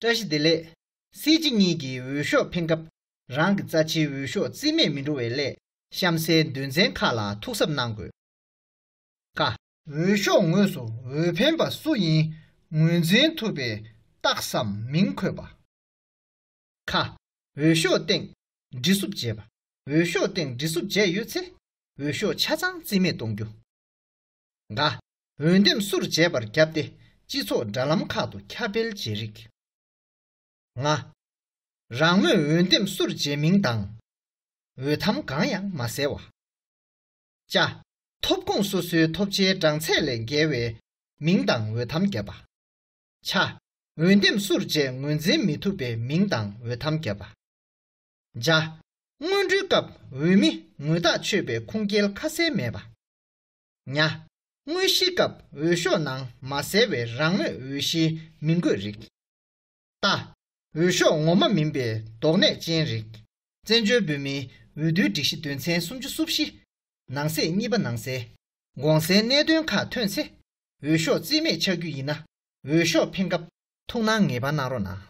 བཀྲ་ཤིས་བདེ་ལེགས། སྲིད་སྤྱི་གཉིས་ཀྱི་འོས་ཤོག་འཕེན་སྐབས། རང་གི་རྩ་ཆེའི་འོས་ཤོག་རྩིས་མེད་མི་འགྲོ་བའི་སླད། གཤམ་གསལ་འདོན་ཚན་ཁག་ལ་ཐུགས་གཟབ་གནང་དགོས། ཀ། འོས་ཤོག་ངོས་སུ་འོས་འཕེན་པ་སུ་ཡིན་ངོས་འཛིན་ཐུབ་པའི་རྟགས་སམ་མིང་འཁོད་པ། ཁ། འོས་ཤོག་སྟེང། འདྲི་སུབ་བྱེད་པ། འོས་ཤོག་སྟེང་འདྲི་སུབ་བྱས་ཡོད་ཚེ། འོས་ཤོག་ཆ་ཚང་རྩིས་མེད་གཏོང་རྒྱུ། འགའ། འོས་འདེམས་སུར་བྱས་པར་བརྒྱབ་སྟེ་སྤྱི་ཚོགས་དྲ་ལམ་ཁག་ཏུ་ཁྱབ་སྤེལ་བྱེད་རིགས། ལྔ། རང་མོས་འོས་འདེམས་སུར་བྱས་མིང་དང། འོས་ཐམ་གང་ཡང་མ་གསལ་བ། བཅའ། ཐོབ་ཁུངས་སོ་སོའི་ཐོབ་ཆའི་གྲངས་ཚད་ལས་འགལ་བའི། མིང་དང་འོས་ཐམ་བརྒྱབ་པ། བྱ། འོས་འདེམས་སུར་བཅད་ངོས་འཛིན་མི་ཐུབ་པའི་མིང་དང་འོས་ཐམ་བརྒྱབ་པ། བྱ། སྔོན་འགྲོའི་སྐབས་འོས་མི་ངོས་ཐག་ཆོད་པའི་ཁུངས་སྐྱེལ་ཁ་གསལ་མེད་པ། ཉའ། དངོས་གཞིའི་སྐབས་འོས་ཤོག་ནང་མ་གསལ་བའི་རང་མོས་འོས་གཞིའི་མིང་འགོད་རིགས། རྟ། འོས་ཤོག་ངོ་མ་མིན་པའི་དོགས་གནད་ཅན་རིགས། བཙན་བྱོལ་བོད་མིའི་འོས་བསྡུའི་སྒྲིག་གཞི་དོན་ཚན་སུམ་ཅུ་སོ་བཞི། ནང་གསེས་གཉིས་པ་ནང་གསལ། དགོངས་སེལ་གནད་དོན་ཁག་ཐོན་ཚེ་འོས་ཤོག་རྩིས་མེད་ཆགས་རྒྱུ་ཡིན་ན། འོས་ཤོག་འཕེན་སྐབས། ཐུགས་སྣང་ངེས་པར་གནང་རོགས་གནང།